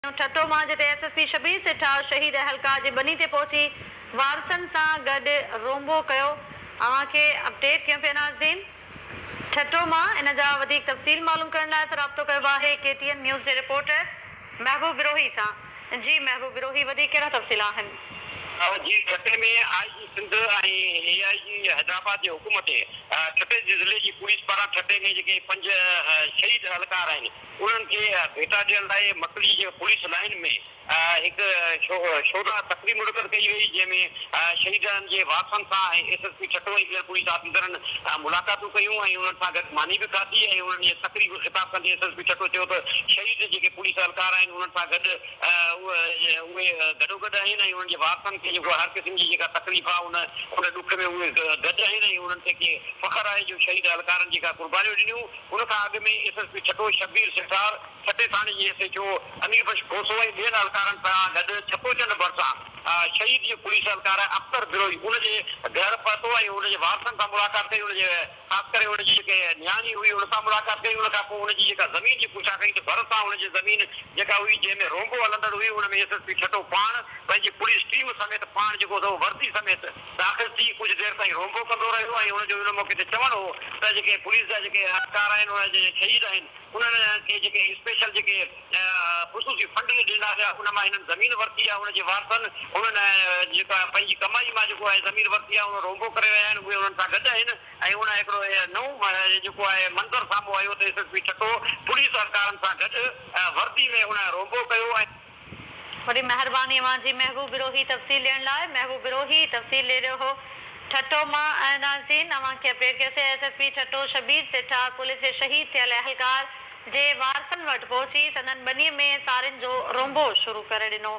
ٺٽو مان جتي S S P Shabbir سيٺاو شهيد اهلڪار جي ٻني تي پهچي وارثن سان گڏ رومبو ڪيو اوهان کي اپڊيٽ ڪيون پيا ناظرين ٺٽو مان ان جا وڌيڪ تفصيل معلوم ڪرڻ لاء اسان رابطو ڪيو آهي ڪي ٽي اين نيوز جي رپورٽر محبوب بروهي سان جي محبوب بروهي وڌيڪ ڪهڙا تفصيل آهن. جي ٺٽي ۾ آء جي سنڌ ۽ اي آء جي حيدرآباد جي حڪم تي ٺٽي جي ضلعي جي پوليس پاران ٺٽي ۾ جيڪي پنج شهيد اهلڪار آهن انهن کي ڀيٽا ڏيڻ لاء مڪلي جي پوليس لائين ۾ هڪ شودا تقريب منعقد ڪئي وئي، جنهن ۾ شهيدن جي وارثن سان ۽ ايس ايس پي ٺٽو ۽ ٻين پوليس آفيسرن ملاقاتون ڪيون ۽ انهن سان گڏ ماني به کاڌي ۽ انهن جي تقريب کي خطاب ڪندي ايس ايس پي ٺٽو چيو ته شهيد جيڪي پوليس اهلڪار آهن انهن سان گڏ اهي گڏوگڏ آهن ۽ انهن جي وارثن کي جيڪو هر قسم جي جيڪا تڪليف آهي ان ان ڏک ۾ اهي گڏ آهن ۽ انهن کي ڪي فخر آهي جو شهيد اهلڪارن جيڪا قربانيون ڏنيون ان کان اڳ ۾ S S P Thatta Shabbir Sethar, ٺٽي ٿاڻي جي S H O Hanif Bakhsh Khoso ۽ ٻين اھلڪارن سان گڏ ڇپو چنڊ ڀرسان شھيد جي پوليس اھلڪار اختر بروھي ان جي گھر پھتو ۽ ان جي وارثن سان ملاقات ڪئي ان جي خاص ڪري ان جي جيڪي نياڻي ھئي ان سان ملاقات ڪئي ان کان پوء ان جي جيڪا زمين جي پڇا ڪئي ته ڀرسان ان جي زمين جيڪا ھئي جنھن ۾ رونبو ھلندڙ ھئي ان ۾ ايس ايس پي ٺٽو پاڻ پنھنجي پوليس ٽيم سميت پاڻ جيڪو سو وردي سميت داخل ٿي ڪجهه دير تائين رونبو ڪندو رهيو ۽ هن جو ان موقعي تي چوڻ هو ته جيڪي پوليس جا جيڪي اهلڪار آهن انهن جا جيڪي شهيد آهن انهن کي جيڪي اسپيشل جيڪي خصوصي فنڊ ڏنا ويا ان مان هنن زمين ورتي آهي ان جي وارثن انهن جيڪا پنهنجي ڪمائي مان جيڪو آهي زمين ورتي آهي ان رونبو ڪري رهيا آهن اهي انهن سان گڏ آهن ۽ ان هڪڙو نئون جيڪو آهي منظر سامهون آيو ته S S P Thatta police اهلڪارن سان گڏ ورتي ۾ ان رونبو ڪيو ۽ وڏي مهرباني اوهان جي محبوب بروهي تفصيل ڏيڻ لاء. محبوب بروهي تفصيل ڏي رهيو هو ٺٽو مان ۽ ناظرين اوهان کي اپڊيٽ ڪيو C S S P Thatta Shabbir Setha police جي شهيد ٿيل اهلڪار جي وارثن وٽ پهچي سندن ٻني ۾ سارين جو رونبو شروع ڪري ڏنو.